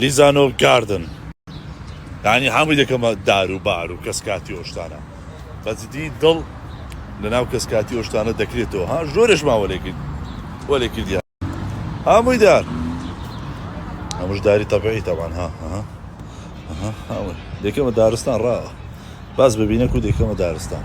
لیزانۆ گاردن یانی هەمووی دەکەمە دار و بار و کەس کاتی ئۆشتانە بەجددی دڵ لە ناو کەس کاتی ئۆشتانە دەکرێتەوە ها زۆرش ماوە لێ کرد وە لێ کردیا هەمووی دار ئەمش داری تەبعی تەوان ها دەکەمە دارستان ڕاوە باز ببینە کو دەکەمە دارستان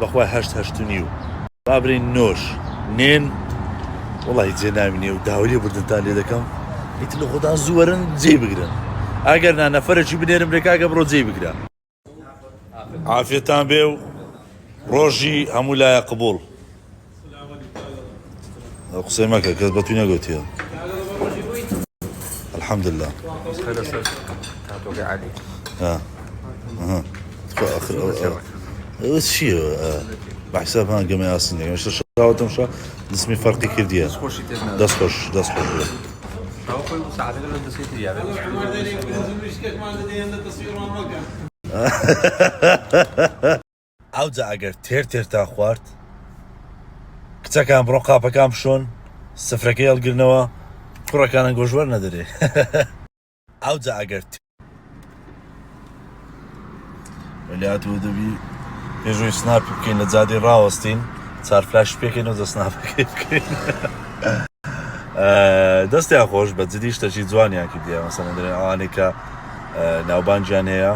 بەخوای هەشت هەشتنیو. بابرین نۆش نێن وەڵاهی جێ ناوی نیە و داوای لێ بردنتان لێ دەکەم ئیتر لە خۆتان زوو وەرن جێی بگرن ئەگەر نا نەفەرێکی بنێرم لێ کاکە بڕۆ جێی بگرە. عافیەتان بێ و ڕۆژی هەموو لایە قبوڵ. قسەی مەکە کەس بە توی نەگوتیە الحمد لله ئەوە چیە بەحساب هەان گەمە ئاسن دەگەشتە شاوتم شا دسمی فەرقی کردیە دەست خۆش دەست خۆش بێ Ha ha ha ha ha! ئەوجا ئەگەر تێر تێرتان خوارد کچەکان بڕۆن قاپەکان بشۆن سفرەکەی هەڵگرنەوە کوڕەکانە گۆش وەرنەدەرێ ئەوجا ئەگەر وەلات و دەبی پێشوی سناپ بکەین لە جادی ڕاوەستین چار فلاش پێکەین و دە سناپ بکەین دەستیان خۆش بە جدی شتەکی جوانیان کردیان مەسەن دەێن ئەوانێکە ناوبانگیان هەیە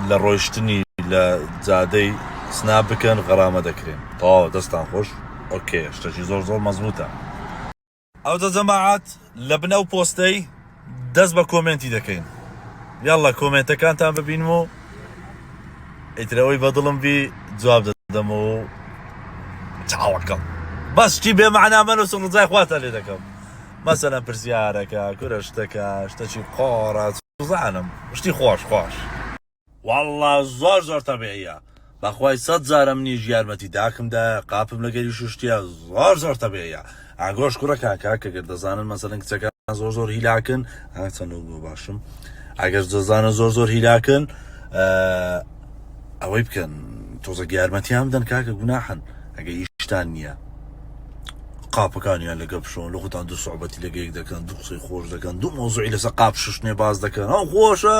لە ڕۆیشتنی لە جادەی سنا بکەن غەرامە دەکرێن تەواوە دەستان خۆش ئۆکێ شتەکی زۆر زۆر مەزبوتە ئەوجا جەماعەت لە بن ئەو پۆستەی دەست بە کۆمێنتی دەکەین یاڵە کۆمێنتەکانتان ببینم و ئیترەوەی بەدڵم بی جواب دەدەم و چاوەکەم بەستی بێمەعنامەن و سڵزای خواتە لێ دەکەم مەسەلەن پرسیارەکە کورە شتەکە شتەکی قۆڕە سوزانم شتی خۆش خۆش. وەڵا زۆر زۆر تەبیعیە بەخوای سەد جارە منیش یارمەتی داکم دایە قاپم لەگەری شوشتیە زۆر زۆر تەبیعیە ئاگۆش کوڕە کاکە کە گەر دەزانن مەسەلەن کچەکان زۆر زۆر هیلاکن ئەچەنە بۆ باشم ئەگەر دەزانن زۆر زۆر هیلاکن ئەوەی بکەن تۆزە یارمەتیان بدەن کاکە گوناحن ئەگە هیچتان نییە قاپەکانیان لەگە بشۆن لە خۆتان دوو سوعبەتی لەگە یەک دەکەن دوو قسەی خۆش دەکەن دوو مۆزوعی لەسە قاپ ششتێ باز دەکەن ئەو خۆشە